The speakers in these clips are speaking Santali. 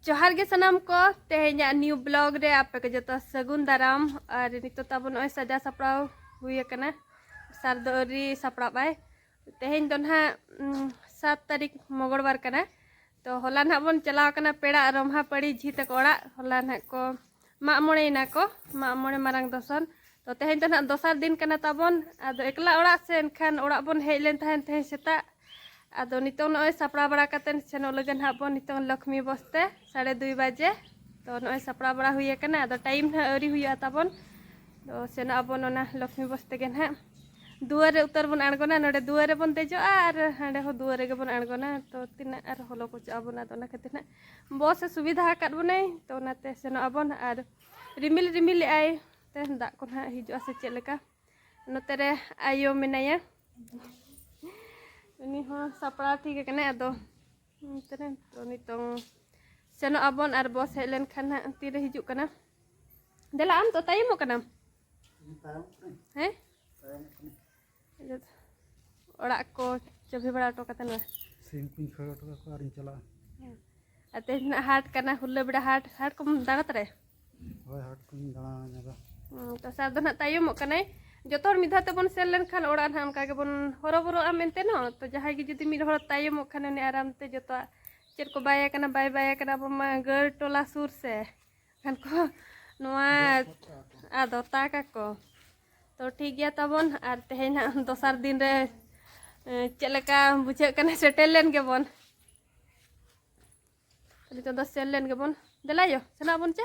ᱡᱚᱦᱟᱨ ᱜᱮ ᱥᱟᱱᱟᱢ ᱠᱚ ᱛᱮᱦᱮᱧᱟᱜ ᱱᱤᱭᱩ ᱵᱞᱚᱜ ᱨᱮ ᱟᱯᱮ ᱠᱚ ᱡᱚᱛᱚ ᱥᱟᱹᱜᱩᱱ ᱫᱟᱨᱟᱢ ᱟᱨ ᱱᱤᱛᱚᱜ ᱛᱟᱵᱚ ᱱᱚᱜᱼᱚᱭ ᱥᱟᱡᱟᱣ ᱥᱟᱯᱲᱟᱣ ᱦᱩᱭ ᱟᱠᱟᱱᱟ ᱥᱟᱨ ᱫᱚ ᱟᱹᱣᱨᱤ ᱥᱟᱯᱲᱟᱣ ᱵᱟᱭ ᱛᱮᱦᱮᱧ ᱫᱚ ᱱᱟᱦᱟᱜ ᱥᱟᱛ ᱛᱟᱹᱨᱤᱠᱷ ᱢᱚᱜᱚᱲᱵᱟᱨ ᱠᱟᱱᱟ ᱛᱚ ᱦᱚᱞᱟ ᱱᱟᱦᱟᱜ ᱵᱚᱱ ᱪᱟᱞᱟᱣ ᱠᱟᱱᱟ ᱯᱮᱲᱟ ᱨᱚᱢᱦᱟ ᱯᱟᱹᱲᱤ ᱡᱷᱤ ᱛᱟᱠᱚ ᱚᱲᱟᱜ ᱦᱚᱞᱟ ᱱᱟᱦᱟᱜ ᱠᱚ ᱢᱟᱜ ᱢᱚᱬᱮ ᱮᱱᱟ ᱠᱚ ᱢᱟᱜ ᱢᱚᱬᱮ ᱢᱟᱨᱟᱝ ᱫᱚᱥᱟᱨ ᱛᱚ ᱛᱮᱦᱮᱧ ᱫᱚ ᱱᱟᱦᱟᱜ ᱫᱚᱥᱟᱨ ᱫᱤᱱ ᱠᱟᱱᱟ ᱛᱟᱵᱚᱱ ᱟᱫᱚ ᱮᱠᱞᱟ ᱚᱲᱟᱜ ᱥᱮ ᱮᱱᱠᱷᱟᱱ ᱚᱲᱟᱜ ᱵᱚᱱ ᱦᱮᱡ ᱞᱮᱱ ᱛᱟᱦᱮᱱ ᱛᱮᱦᱮᱧ ᱥᱮᱛᱟᱜ ᱟᱫᱚ ᱱᱤᱛᱚᱝ ᱱᱚᱜᱼᱚᱭ ᱥᱟᱯᱲᱟᱣ ᱵᱟᱲᱟ ᱠᱟᱛᱮᱫ ᱥᱮᱱᱚᱜ ᱞᱟᱹᱜᱤᱫ ᱱᱟᱦᱟᱜ ᱵᱚᱱ ᱱᱤᱛᱚᱝ ᱞᱚᱠᱷᱢᱤ ᱵᱚᱥᱛᱮ ᱥᱟᱲᱮ ᱫᱩᱭ ᱵᱟᱡᱮ ᱛᱚ ᱱᱚᱜᱼᱚᱭ ᱥᱟᱯᱲᱟᱣ ᱵᱟᱲᱟ ᱦᱩᱭ ᱟᱠᱟᱱᱟ ᱟᱫᱚ ᱴᱟᱭᱤᱢ ᱱᱟᱦᱟᱜ ᱟᱹᱣᱨᱤ ᱦᱩᱭᱩᱜᱼᱟ ᱛᱟᱵᱚᱱ ᱛᱚ ᱥᱮᱱᱚᱜ ᱟᱵᱚᱱ ᱚᱱᱟ ᱞᱚᱠᱷᱢᱤ ᱵᱚᱥ ᱛᱮᱜᱮ ᱱᱟᱦᱟᱜ ᱫᱩᱣᱟᱹᱨ ᱨᱮ ᱩᱛᱟᱹᱨ ᱵᱚᱱ ᱟᱬᱜᱚᱱᱟ ᱱᱚᱰᱮ ᱫᱩᱣᱟᱹᱨ ᱨᱮᱵᱚᱱ ᱫᱮᱡᱚᱜᱼᱟ ᱟᱨ ᱦᱟᱸᱰᱮ ᱦᱚᱸ ᱫᱩᱣᱟᱹᱨ ᱨᱮᱜᱮ ᱵᱚᱱ ᱟᱬᱜᱚᱱᱟ ᱛᱚ ᱛᱤᱱᱟᱹᱜ ᱟᱨ ᱦᱚᱞᱚ ᱠᱚᱪᱚᱜ ᱟᱵᱚᱱ ᱟᱫᱚ ᱚᱱᱟ ᱠᱷᱟᱹᱛᱤᱨ ᱱᱟᱦᱟᱜ ᱵᱚᱥ ᱮ ᱥᱩᱵᱤᱫᱷᱟ ᱟᱠᱟᱫ ᱵᱚᱱᱟᱭ ᱛᱚ ᱚᱱᱟᱛᱮ ᱥᱮᱱᱚᱜ ᱟᱵᱚᱱ ᱟᱨ ᱨᱤᱢᱤᱞ ᱨᱤᱢᱤᱞ ᱮᱜᱼᱟᱭ ᱛᱮ ᱫᱟᱜ ᱠᱚ ᱱᱟᱦᱟᱜ ᱦᱤᱡᱩᱜᱼᱟ ᱥᱮ ᱪᱮᱫ ᱞᱮᱠᱟ ᱱᱚᱛᱮ ᱨᱮ ᱟᱭᱳ ᱢᱮᱱᱟᱭᱟ ᱩᱱᱤ ᱦᱚᱸ ᱥᱟᱯᱲᱟᱣ ᱴᱷᱤᱠ ᱟᱠᱟᱱᱟᱭ ᱟᱫᱚ ᱱᱚᱛᱮ ᱨᱮ ᱛᱚ ᱱᱤᱛᱚᱝ ᱥᱮᱱᱚᱜ ᱟᱵᱚᱱ ᱟᱨ ᱵᱚᱥ ᱦᱮᱡ ᱞᱮᱱᱠᱷᱟᱱ ᱦᱟᱸᱜ ᱛᱤᱨᱮ ᱦᱤᱡᱩᱜ ᱠᱟᱱᱟ ᱫᱮᱞᱟ ᱟᱢ ᱫᱚ ᱛᱟᱭᱚᱢᱚᱜ ᱠᱟᱱᱟᱢ ᱦᱮᱸ ᱚᱲᱟᱜ ᱠᱚ ᱪᱟᱹᱵᱤ ᱵᱟᱲᱟ ᱦᱚᱴᱚ ᱠᱟᱛᱮ ᱱᱚᱣᱟ ᱥᱤᱢ ᱠᱚᱧ ᱠᱷᱟᱹᱲ ᱦᱚᱴᱚ ᱠᱟᱠᱚᱣᱟ ᱟᱨᱤᱧ ᱪᱟᱞᱟᱜᱼᱟ ᱟᱨ ᱛᱮᱦᱮᱧ ᱱᱟᱜ ᱦᱟᱴ ᱠᱟᱱᱟ ᱦᱩᱞᱟᱹ ᱵᱮᱲᱟ ᱦᱟᱴ ᱦᱟᱴ ᱠᱚᱢ ᱫᱟᱬᱟ ᱛᱟᱨᱟᱭᱟ ᱦᱳᱭ ᱦᱟᱴ ᱠᱚᱧ ᱫᱟᱬᱟ ᱧᱚᱜᱟ ᱛᱚ ᱥᱟᱨ ᱫᱚ ᱱᱟᱜ ᱛᱟᱭᱚᱢᱚᱜ ᱠᱟᱱᱟᱭ ᱡᱚᱛᱚ ᱦᱚᱲ ᱢᱤᱫ ᱫᱷᱟᱣ ᱛᱮᱵᱚᱱ ᱥᱮᱱ ᱞᱮᱱᱠᱷᱟᱱ ᱚᱲᱟᱜ ᱱᱟᱜ ᱚᱱᱠᱟ ᱜᱮᱵᱚᱱ ᱦᱚᱨᱚᱵᱚᱨᱚᱜᱼᱟ ᱢᱮᱱᱛᱮ ᱱᱚ ᱛᱚ ᱡᱟᱦᱟᱸᱭ ᱜᱮ ᱡᱩᱫᱤ ᱢᱤᱫ ᱦᱚᱲ ᱛᱟᱭᱚᱢᱚᱜ ᱠᱷᱟᱱ ᱩᱱᱤ ᱟᱨᱟᱢ ᱛᱮ ᱡᱚᱛᱚᱣᱟᱜ ᱪᱮᱫ ᱠᱚ ᱵᱟᱭ ᱠᱟᱱᱟ ᱵᱟᱭ ᱵᱟᱭ ᱠᱟᱱᱟ ᱟᱵᱚ ᱢᱟ ᱜᱟᱹᱲ ᱴᱚᱞᱟ ᱥᱩᱨ ᱥᱮ ᱠᱷᱟᱱ ᱠᱚ ᱱᱚᱣᱟ ᱟᱫᱚ ᱛᱟᱠ ᱟᱠᱚ ᱛᱚ ᱴᱷᱤᱠ ᱜᱮᱭᱟ ᱛᱟᱵᱚᱱ ᱟᱨ ᱛᱮᱦᱮᱧ ᱦᱟᱸᱜ ᱫᱚᱥᱟᱨ ᱫᱤᱱ ᱨᱮ ᱪᱮᱫ ᱞᱮᱠᱟ ᱵᱩᱡᱷᱟᱹᱜ ᱠᱟᱱᱟ ᱥᱮᱴᱮᱨ ᱞᱮᱱ ᱜᱮᱵᱚᱱ ᱱᱤᱛᱚᱜ ᱫᱚ ᱥᱮᱱ ᱞᱮᱱ ᱜᱮᱵᱚᱱ ᱫᱮᱞᱟᱭᱚ ᱥᱮᱱᱚᱜ ᱟᱵᱚᱱ ᱪᱮ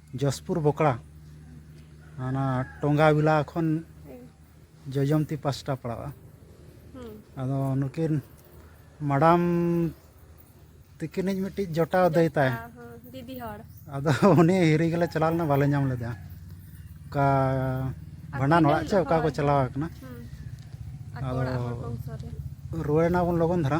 ᱡᱚᱥᱯᱩᱨ ᱵᱚᱠᱲᱟ ᱚᱱᱟ ᱴᱚᱸᱜᱟ ᱵᱤᱞᱟ ᱠᱷᱚᱱ ᱡᱚᱡᱚᱢᱛᱤ ᱯᱟᱥᱴᱟ ᱯᱟᱲᱟᱜᱼᱟ ᱟᱫᱚ ᱱᱩᱠᱤᱱ ᱢᱟᱰᱟᱢ ᱛᱤᱠᱤᱱᱤᱡ ᱢᱤᱫᱴᱤᱡ ᱡᱚᱴᱟᱣ ᱫᱟᱹᱭ ᱛᱟᱭ ᱫᱤᱫᱤ ᱦᱚᱲ ᱟᱫᱚ ᱩᱱᱤ ᱦᱤᱨᱤ ᱜᱮᱞᱮ ᱪᱟᱞᱟᱣ ᱞᱮᱱᱟ ᱵᱟᱞᱮ ᱧᱟᱢ ᱞᱮᱫᱟ ᱚᱠᱟ ᱵᱷᱟᱸᱰᱟᱱ ᱚᱲᱟᱜ ᱪᱮ ᱚᱠᱟ ᱠᱚ ᱪᱟᱞᱟᱣ ᱟᱠᱟᱱᱟ ᱟᱫᱚ ᱨᱩᱣᱟᱹᱲ ᱮᱱᱟᱵᱚᱱ ᱞᱚᱜᱚᱱ ᱫᱷᱟᱨᱟ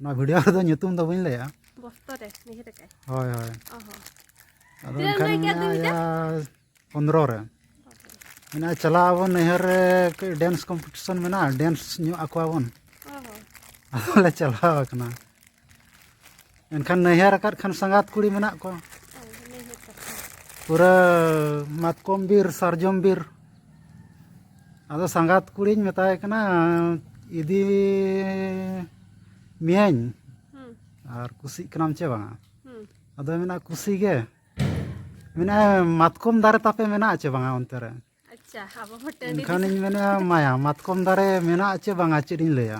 ᱱᱚᱣᱟ ᱵᱷᱤᱰᱤᱭᱳ ᱨᱮᱫᱚ ᱧᱩᱛᱩᱢ ᱫᱚ ᱵᱟᱹᱧ ᱞᱟᱹᱭᱟ ᱵᱚᱥᱛᱚ ᱨᱮ ᱱᱤᱦᱟᱹ ᱨᱮ ᱦᱳᱭ ᱦᱳᱭ ᱟᱫᱚ ᱮᱱᱠᱷᱟᱱ ᱢᱮᱱᱟᱭᱟ ᱯᱚᱱᱫᱨᱚ ᱨᱮ ᱢᱮᱱᱟᱜᱼᱟ ᱪᱟᱞᱟᱜ ᱟᱵᱚᱱ ᱱᱟᱹᱭᱦᱟᱹᱨ ᱨᱮ ᱰᱮᱱᱥ ᱠᱚᱢᱯᱤᱴᱤᱥᱚᱱ ᱢᱮᱱᱟᱜᱼᱟ ᱰᱮᱱᱥ ᱧᱚᱜ ᱟᱠᱚᱣᱟᱵᱚᱱ ᱟᱫᱚ ᱞᱮ ᱪᱟᱞᱟᱣ ᱟᱠᱟᱱᱟ ᱮᱱᱠᱷᱟᱱ ᱱᱟᱹᱭᱦᱟᱹᱨ ᱟᱠᱟᱫ ᱠᱷᱟᱱ ᱥᱟᱸᱜᱟᱛ ᱠᱩᱲᱤ ᱢᱮᱱᱟᱜ ᱠᱚᱣᱟ ᱯᱩᱨᱟᱹ ᱢᱟᱛᱠᱚᱢ ᱵᱤᱨ ᱥᱟᱨᱡᱚᱢ ᱵᱤᱨ ᱟᱫᱚ ᱥᱟᱸᱜᱟᱛ ᱠᱩᱲᱤᱧ ᱢᱮᱛᱟᱭ ᱠᱟᱱᱟ ᱤᱫᱤ ᱢᱤᱭᱟᱹᱧ ᱟᱨ ᱠᱩᱥᱤᱜ ᱠᱟᱱᱟᱢ ᱪᱮ ᱵᱟᱝᱟ ᱟᱫᱚ ᱢᱮᱱᱟ ᱠᱩᱥᱤ ᱜᱮ ᱢᱮᱱᱟ ᱢᱟᱛᱠᱚᱢ ᱫᱟᱨᱮ ᱛᱟᱯᱮ ᱢᱮᱱᱟᱜᱼᱟ ᱪᱮ ᱵᱟᱝᱟ ᱚᱱᱛᱮ ᱨᱮ ᱮᱱᱠᱷᱟᱱᱤᱧ ᱢᱮᱱᱟ ᱢᱟᱭᱟ ᱢᱟᱛᱠᱚᱢ ᱫᱟᱨᱮ ᱢᱮᱱᱟᱜᱼᱟ ᱪᱮ ᱵᱟᱝᱟ ᱪᱮᱫ ᱤᱧ ᱞᱟᱹᱭᱟ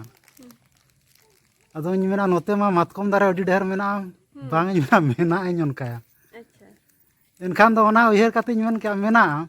ᱟᱫᱚᱧ ᱢᱮᱱᱟ ᱱᱚᱛᱮ ᱢᱟ ᱢᱟᱛᱠᱚᱢ ᱫᱟᱨᱮ ᱟᱹᱰᱤ ᱰᱷᱮᱨ ᱢᱮᱱᱟᱜᱼᱟ ᱵᱟᱝ ᱤᱧ ᱢᱮᱱᱟ ᱢᱮᱱᱟᱜᱼᱟᱹᱧ ᱚᱱᱠᱟᱭᱟ ᱮᱱᱠᱷᱟᱱ ᱫᱚ ᱚᱱᱟ ᱩᱭᱦᱟᱹᱨ ᱠᱟᱛᱮᱧ ᱢᱮᱱ ᱠᱮᱜᱼᱟ ᱢᱮᱱᱟᱜᱼᱟ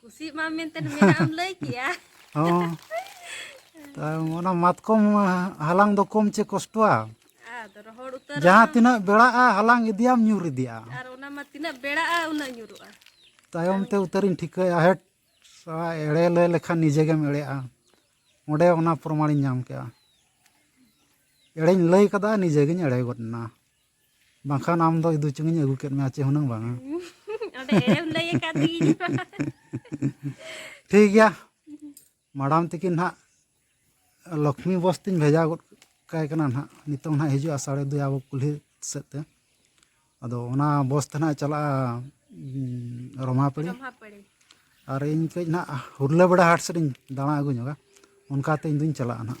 ᱠᱩᱥᱤᱜ ᱢᱟ ᱢᱮᱱᱛᱮ ᱢᱮᱱᱟᱜ ᱞᱟᱹᱭ ᱠᱮᱭᱟ ᱦᱚᱸ ᱚᱱᱟ ᱢᱟᱛᱠᱚᱢ ᱦᱟᱞᱟᱝ ᱫᱚ ᱠᱚᱢ ᱪᱮ ᱠᱚᱥᱴᱚᱣᱟ ᱡᱟᱦᱟᱸ ᱛᱤᱱᱟᱹᱜ ᱵᱮᱲᱟᱜᱼᱟ ᱦᱟᱞᱟᱝ ᱤᱫᱤᱭᱟᱢ ᱧᱩᱨ ᱤᱫᱤᱭᱟ ᱟᱨ ᱚᱱᱟ ᱢᱟ ᱛᱤᱱᱟᱹᱜ ᱵᱮᱲᱟᱜᱼᱟ ᱩᱱᱟᱹᱜ ᱧᱩᱨᱩᱜᱼᱟ ᱛᱟᱭᱚᱢ ᱛᱮ ᱩᱛᱟᱹᱨᱤᱧ ᱴᱷᱤᱠᱟᱹᱭᱟ ᱦᱮᱴ ᱮᱲᱮ ᱞᱟᱹᱭ ᱞᱮᱠᱷᱟᱱ ᱱᱤᱡᱮ ᱜᱮᱢ ᱮᱲᱮᱜᱼᱟ ᱚᱸᱰᱮ ᱚᱱᱟ ᱯᱨᱚᱢᱟᱬᱤᱧ ᱧᱟᱢ ᱠᱮᱜᱼᱟ ᱮᱲᱮᱧ ᱞᱟᱹᱭ ᱠᱟᱫᱟ ᱱᱤᱡᱮ ᱜᱤᱧ ᱮᱲᱮ ᱜᱚᱫ ᱮᱱᱟ ᱵᱟᱝᱠᱷᱟᱱ ᱟᱢ ᱫᱚ ᱤᱫᱩ ᱪᱩᱝᱤᱧ ᱟᱹᱜᱩ ᱠᱮᱫ ᱢᱮᱭᱟ ᱪᱮ ᱦᱩᱱᱟᱹᱝ ᱵᱟᱝᱟ ᱚᱸᱰᱮ ᱮᱲᱮᱢ ᱞᱟᱹᱭ ᱟᱠᱟᱫ ᱫᱤᱧ ᱴᱷᱤᱠ ᱜᱮᱭᱟ ᱢᱟᱰᱟᱢ ᱛᱤᱠᱤᱱ ᱱᱟᱦᱟᱜ ᱞᱚᱠᱷᱢᱤ ᱵᱚᱥ ᱛᱤᱧ ᱵᱷᱮᱡᱟ ᱜᱚᱫ ᱠᱟᱭ ᱠᱟᱱᱟ ᱱᱟᱦᱟᱜ ᱱᱤᱛᱚᱝ ᱱᱟᱦᱟᱜ ᱦᱤᱡᱩᱜᱼᱟ ᱥᱟᱲᱮ ᱫᱩᱭ ᱟᱵᱚ ᱠᱩᱞᱦᱤ ᱥᱮᱫ ᱛᱮ ᱟᱫᱚ ᱚᱱᱟ ᱵᱚᱥ ᱛᱮ ᱱᱟᱦᱟᱜ ᱪᱟᱞᱟᱜᱼᱟ ᱨᱚᱢᱟᱯᱟᱹᱲᱤ ᱨᱚᱢᱟᱯᱟᱹᱲᱤ ᱟᱨ ᱤᱧ ᱠᱟᱹᱡ ᱱᱟᱦᱟᱜ ᱦᱩᱨᱞᱟᱹ ᱵᱮᱲᱟ ᱦᱟᱴ ᱥᱮᱫ ᱤᱧ ᱫᱟᱬᱟ ᱟᱹᱜᱩ ᱧᱚᱜᱟ ᱚᱱᱠᱟᱛᱮ ᱤᱧ ᱫᱩᱧ ᱪᱟᱞᱟᱜᱼᱟ ᱱᱟᱦᱟᱜ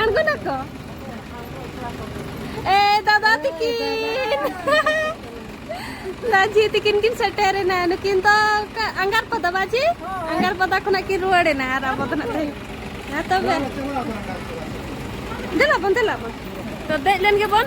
ᱟᱬᱜᱚ ᱱᱟᱠᱚ ᱮ ᱫᱟᱫᱟ ᱛᱤᱠᱤᱱ ᱞᱟᱡᱤ ᱛᱤᱠᱤᱱ ᱠᱤᱱ ᱥᱮᱴᱮᱨᱮᱱᱟ ᱱᱩᱠᱤᱱ ᱫᱚ ᱟᱸᱜᱟᱨ ᱯᱟᱫᱟ ᱵᱟᱡᱤ ᱟᱸᱜᱟᱨ ᱯᱟᱫᱟ ᱠᱷᱚᱱᱟᱜ ᱠᱤᱱ ᱨᱩᱣᱟᱹᱲᱮᱱᱟ ᱟᱨ ᱟᱵᱚ ᱫᱚ ᱱᱟᱜ ᱛᱚᱵᱮ ᱫᱮᱞᱟ ᱵᱚᱱ ᱫᱮᱞᱟ ᱵᱚᱱ ᱛᱚ ᱫᱮᱡ ᱞᱮᱱ ᱜᱮᱵᱚᱱ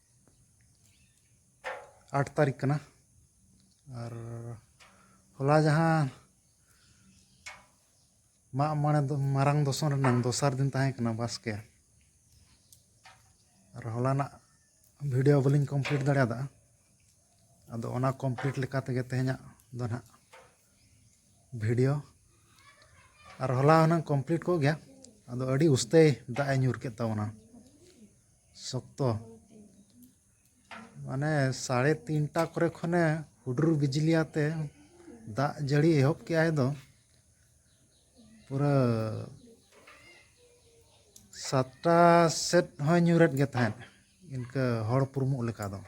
ᱟᱴ ᱛᱟᱹᱨᱤᱠᱷ ᱠᱟᱱᱟ ᱟᱨ ᱦᱚᱞᱟ ᱡᱟᱦᱟᱸ ᱢᱟᱜ ᱢᱚᱬᱮ ᱫᱚ ᱢᱟᱨᱟᱝ ᱫᱚᱥᱚᱢ ᱨᱮᱱᱟᱝ ᱫᱚᱥᱟᱨ ᱫᱤᱱ ᱛᱟᱦᱮᱸ ᱠᱟᱱᱟ ᱵᱟᱥᱠᱮ ᱟᱨ ᱦᱚᱞᱟᱱᱟᱜ ᱵᱷᱤᱰᱤᱭᱳ ᱵᱟᱹᱞᱤᱧ ᱠᱚᱢᱯᱞᱤᱴ ᱫᱟᱲᱮᱭᱟᱫᱟ ᱟᱫᱚ ᱚᱱᱟ ᱠᱚᱢᱯᱞᱤᱴ ᱞᱮᱠᱟ ᱛᱮᱜᱮ ᱛᱮᱦᱮᱧᱟᱜ ᱫᱚ ᱱᱟᱦᱟᱜ ᱵᱷᱤᱰᱤᱭᱳ ᱟᱨ ᱦᱚᱞᱟ ᱦᱩᱱᱟᱹᱝ ᱠᱚᱢᱯᱞᱤᱴ ᱠᱚᱜ ᱜᱮᱭᱟ ᱟᱫᱚ ᱟᱹᱰᱤ ᱩᱥᱛᱟᱹᱭ ᱫᱟᱜ ᱮ ᱧᱩᱨ ᱠᱮᱫ ᱛᱟᱵᱚᱱᱟ ᱥᱚᱠᱛᱚ ᱢᱟᱱᱮ ᱥᱟᱲᱮ ᱛᱤᱱᱴᱟ ᱠᱚᱨᱮ ᱠᱷᱚᱱᱮ ᱦᱩᱰᱩᱨ ᱵᱤᱡᱽᱞᱤ ᱟᱛᱮ ᱫᱟᱜ ᱡᱟᱹᱲᱤ ᱮᱦᱚᱵ ᱠᱮᱫ ᱟᱭ ᱫᱚ ᱯᱩᱨᱟᱹ ᱥᱟᱛᱴᱟ ᱥᱮᱫ ᱦᱚᱸᱭ ᱧᱩᱨᱮᱫ ᱜᱮ ᱛᱟᱦᱮᱸᱫ ᱤᱱᱠᱟᱹ ᱦᱚᱲ ᱯᱩᱨᱢᱩᱜ ᱞᱮᱠᱟ ᱫᱚ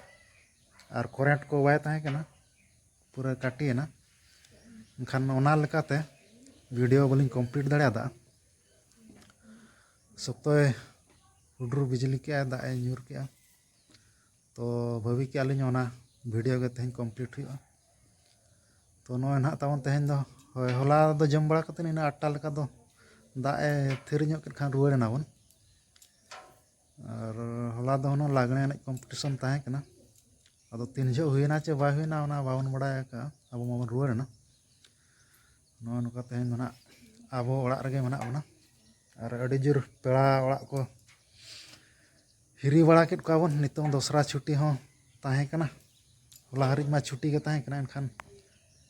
ᱟᱨ ᱠᱚᱨᱮᱱᱴ ᱠᱚ ᱵᱟᱭ ᱛᱟᱦᱮᱸ ᱠᱟᱱᱟ ᱯᱩᱨᱟᱹ ᱠᱟᱹᱴᱤᱭᱮᱱᱟ ᱮᱱᱠᱷᱟᱱ ᱚᱱᱟ ᱞᱮᱠᱟᱛᱮ ᱵᱷᱤᱰᱤᱭᱳ ᱵᱟᱹᱞᱤᱧ ᱠᱚᱢᱯᱞᱤᱴ ᱫᱟᱲᱮᱭᱟᱫᱟ ᱥᱚᱠᱛᱚᱭ ᱦᱩᱰᱩᱨ ᱵᱤᱡᱽᱞᱤ ᱠᱮᱫᱼᱟᱭ ᱫᱟᱜ ᱮ ᱧᱩᱨ ᱠᱮᱫᱼᱟ ᱛᱚ ᱵᱷᱟᱹᱵᱤ ᱠᱮᱫᱼᱟ ᱞᱤᱧ ᱚᱱᱟ ᱵᱷᱤᱰᱤᱭᱳ ᱜᱮ ᱛᱮᱦᱮᱧ ᱠᱚᱢᱯᱞᱤᱴ ᱦᱩᱭᱩᱜᱼᱟ ᱛᱚ ᱱᱚᱜᱼᱚᱭ ᱱᱟᱦᱟᱜ ᱛᱟᱵᱚᱱ ᱛᱮᱦᱮᱧ ᱫᱚ ᱦᱳᱭ ᱦᱚᱞᱟ ᱫᱚ ᱡᱚᱢ ᱵᱟᱲᱟ ᱠᱟᱛᱮᱫ ᱤᱱᱟᱹ ᱟᱴᱴᱟ ᱞᱮᱠᱟ ᱫᱚ ᱫᱟᱜ ᱮ ᱛᱷᱤᱨ ᱧᱚᱜ ᱠᱮᱫ ᱠᱷᱟᱱ ᱨᱩᱣᱟᱹᱲ ᱮᱱᱟᱵᱚᱱ ᱟᱨ ᱦᱚᱞᱟ ᱫᱚ ᱦᱩᱱᱟᱹᱝ ᱞᱟᱜᱽᱬᱮ ᱮᱱᱮᱡ ᱠᱚᱢᱯᱤᱴᱤᱥᱚᱱ ᱛᱟᱦᱮᱸ ᱠᱟᱱᱟ ᱟᱫᱚ ᱛᱤᱱ ᱡᱚᱦᱚᱜ ᱦᱩᱭᱱᱟ ᱪᱮ ᱵᱟᱭ ᱦᱩᱭᱱᱟ ᱚᱱᱟ ᱵᱟᱵᱚᱱ ᱵᱟᱲᱟᱭ ᱟᱠᱟᱫᱼᱟ ᱟᱵᱚ ᱢᱟᱵᱚᱱ ᱨᱩᱣᱟᱹᱲ ᱮᱱᱟ ᱱᱚᱜᱼᱚ ᱱᱚᱝᱠᱟ ᱛᱮᱦᱮᱧ ᱫᱚ ᱱᱟᱦᱟᱜ ᱟᱵᱚ ᱚᱲᱟᱜ ᱨᱮᱜᱮ ᱢᱮᱱᱟᱜ ᱵᱚᱱᱟ ᱟᱨ ᱟᱹᱰᱤ ᱡᱳᱨ ᱯᱮᱲᱟ ᱚᱲᱟᱜ ᱠᱚ ᱦᱤᱨᱤ ᱵᱟᱲᱟ ᱠᱮᱫ ᱠᱚᱣᱟ ᱵᱚᱱ ᱱᱤᱛᱚᱝ ᱫᱚᱥᱨᱟ ᱪᱷᱩᱴᱤ ᱦᱚᱸ ᱛᱟᱦᱮᱸ ᱠᱟᱱᱟ ᱦᱚᱞᱟ ᱦᱟᱹᱨᱤᱡ ᱢᱟ ᱪᱷᱩᱴᱤ ᱜᱮ ᱛᱟᱦᱮᱸ ᱠᱟᱱᱟ ᱮᱱᱠᱷᱟᱱ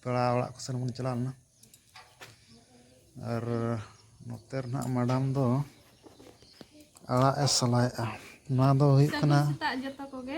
ᱯᱮᱲᱟ ᱚᱲᱟᱜ ᱠᱚᱥᱮᱱ ᱵᱚᱱ ᱪᱟᱞᱟᱣ ᱞᱮᱱᱟ ᱟᱨ ᱱᱚᱛᱮ ᱨᱮᱱᱟᱜ ᱢᱮᱰᱟᱢ ᱫᱚ ᱟᱲᱟᱜ ᱮ ᱥᱟᱞᱟᱭᱮᱫᱼᱟ ᱱᱚᱣᱟ ᱫᱚ ᱦᱩᱭᱩᱜ ᱠᱟᱱᱟ ᱥᱮᱛᱟᱜ ᱡᱚᱛᱚ ᱠᱚᱜᱮ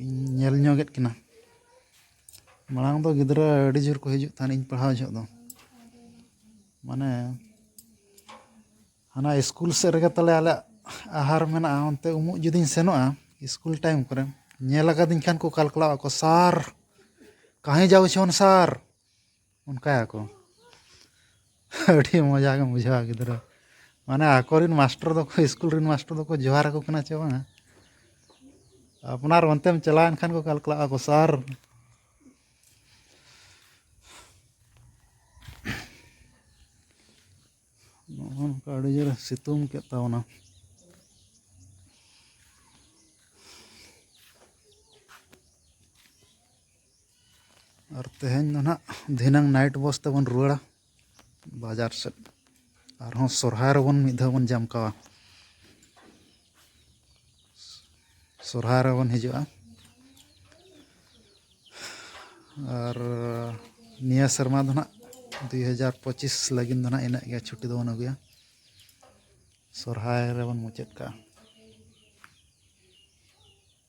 ᱤᱧ ᱧᱮᱞ ᱧᱚᱜᱮᱫ ᱠᱤᱱᱟ ᱢᱟᱲᱟᱝ ᱫᱚ ᱜᱤᱫᱽᱨᱟᱹ ᱟᱹᱰᱤ ᱡᱳᱨ ᱠᱚ ᱦᱤᱡᱩᱜ ᱛᱟᱦᱮᱱ ᱤᱧ ᱯᱟᱲᱦᱟᱣ ᱡᱚᱦᱚᱜ ᱫᱚ ᱢᱟᱱᱮ ᱦᱟᱱᱟ ᱤᱥᱠᱩᱞ ᱥᱮᱫ ᱨᱮᱜᱮ ᱛᱟᱞᱮ ᱟᱞᱮᱭᱟᱜ ᱟᱦᱟᱨ ᱢᱮᱱᱟᱜᱼᱟ ᱚᱱᱛᱮ ᱩᱢᱩᱜ ᱡᱩᱫᱤᱧ ᱥᱮᱱᱚᱜᱼᱟ ᱤᱥᱠᱩᱞ ᱴᱟᱭᱤᱢ ᱠᱚᱨᱮ ᱧᱮᱞ ᱠᱟᱫᱤᱧ ᱠᱷᱟᱱ ᱠᱚ ᱠᱟᱞᱠᱟᱞᱟᱣ ᱟᱠᱚ ᱥᱟᱨ ᱠᱟᱦᱮ ᱡᱟᱣ ᱪᱷᱚᱱ ᱥᱟᱨ ᱚᱱᱠᱟᱭᱟᱠᱚ ᱟᱹᱰᱤ ᱢᱚᱡᱟ ᱜᱮᱢ ᱵᱩᱡᱷᱟᱹᱣᱟ ᱜᱤᱫᱽᱨᱟᱹ ᱢᱟᱱᱮ ᱟᱠᱚᱨᱮᱱ ᱢᱟᱥᱴᱚᱨ ᱫᱚᱠᱚ ᱤᱥᱠᱩᱞ ᱨᱮᱱ ᱢᱟᱥᱴᱚᱨ ᱫᱚᱠᱚ ᱡᱚᱦᱟᱨ ᱟᱠᱚ ᱠᱟᱱᱟ ᱪᱮ ᱵᱟᱝᱟ ᱟᱯᱱᱟᱨ ᱚᱱᱛᱮᱢ ᱪᱟᱞᱟᱣᱮᱱ ᱠᱷᱟᱱ ᱠᱚ ᱠᱟᱞᱠᱟᱞᱟᱜ ᱟᱠᱚ ᱥᱟᱨ ᱱᱚᱜᱼᱚ ᱱᱚᱝᱠᱟ ᱟᱹᱰᱤ ᱡᱳᱨᱮ ᱥᱤᱛᱩᱝ ᱠᱮᱫ ᱛᱟᱵᱚᱱᱟ ᱟᱨ ᱛᱮᱦᱮᱧ ᱫᱚ ᱱᱟᱦᱟᱜ ᱫᱷᱤᱱᱟᱹᱝ ᱱᱟᱭᱤᱴ ᱵᱚᱥ ᱛᱮᱵᱚᱱ ᱨᱩᱣᱟᱹᱲᱟ ᱵᱟᱡᱟᱨ ᱥᱮᱫ ᱟᱨᱦᱚᱸ ᱥᱚᱨᱦᱟᱭ ᱨᱮᱵᱚᱱ ᱢᱤᱫ ᱫᱷᱟᱣ ᱵᱚᱱ ᱡᱟᱢᱠᱟᱣᱟ ᱥᱚᱨᱦᱟᱭ ᱨᱮᱵᱚᱱ ᱦᱤᱡᱩᱜᱼᱟ ᱟᱨ ᱱᱤᱭᱟᱹ ᱥᱮᱨᱢᱟ ᱫᱚ ᱱᱟᱦᱟᱜ ᱫᱩᱭ ᱦᱟᱡᱟᱨ ᱯᱚᱸᱪᱤᱥ ᱞᱟᱹᱜᱤᱫ ᱫᱚ ᱱᱟᱦᱟᱜ ᱤᱱᱟᱹᱜ ᱜᱮ ᱪᱷᱩᱴᱤ ᱫᱚᱵᱚᱱ ᱟᱹᱜᱩᱭᱟ ᱥᱚᱨᱦᱟᱭ ᱨᱮᱵᱚᱱ ᱢᱩᱪᱟᱹᱫ ᱠᱟᱜᱼᱟ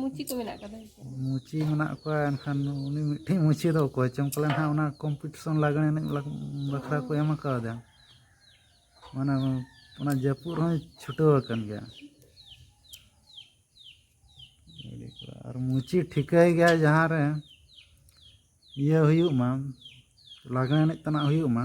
ᱢᱩᱪᱤ ᱠᱚ ᱢᱮᱱᱟᱜ ᱠᱟᱫᱟ ᱢᱩᱪᱤ ᱢᱮᱱᱟᱜ ᱠᱚᱣᱟ ᱮᱱᱠᱷᱟᱱ ᱩᱱᱤ ᱢᱤᱫᱴᱮᱱ ᱢᱩᱪᱤ ᱫᱚ ᱚᱠᱚᱭ ᱪᱚᱝ ᱯᱟᱞᱮᱱ ᱦᱟᱸᱜ ᱚᱱᱟ ᱠᱚᱢᱯᱤᱴᱤᱥᱚᱱ ᱞᱟᱜᱽᱬᱮ ᱮᱱᱮᱡ ᱵᱟᱠᱷᱨᱟ ᱠᱚ ᱮᱢ ᱠᱟᱣᱫᱟ ᱢᱟᱱᱮ ᱚᱱᱟ ᱡᱟᱹᱯᱩᱫ ᱨᱮᱦᱚᱸᱭ ᱪᱷᱩᱴᱟᱹᱣ ᱟᱠᱟᱱ ᱜᱮᱭᱟ ᱟᱨ ᱢᱩᱪᱤ ᱴᱷᱤᱠᱟᱹᱭ ᱜᱮᱭᱟ ᱡᱟᱦᱟᱸ ᱨᱮ ᱤᱭᱟᱹ ᱦᱩᱭᱩᱜ ᱢᱟ ᱞᱟᱜᱽᱬᱮ ᱮᱱᱮᱡ ᱛᱮᱱᱟᱜ ᱦᱩᱭᱩᱜ ᱢᱟ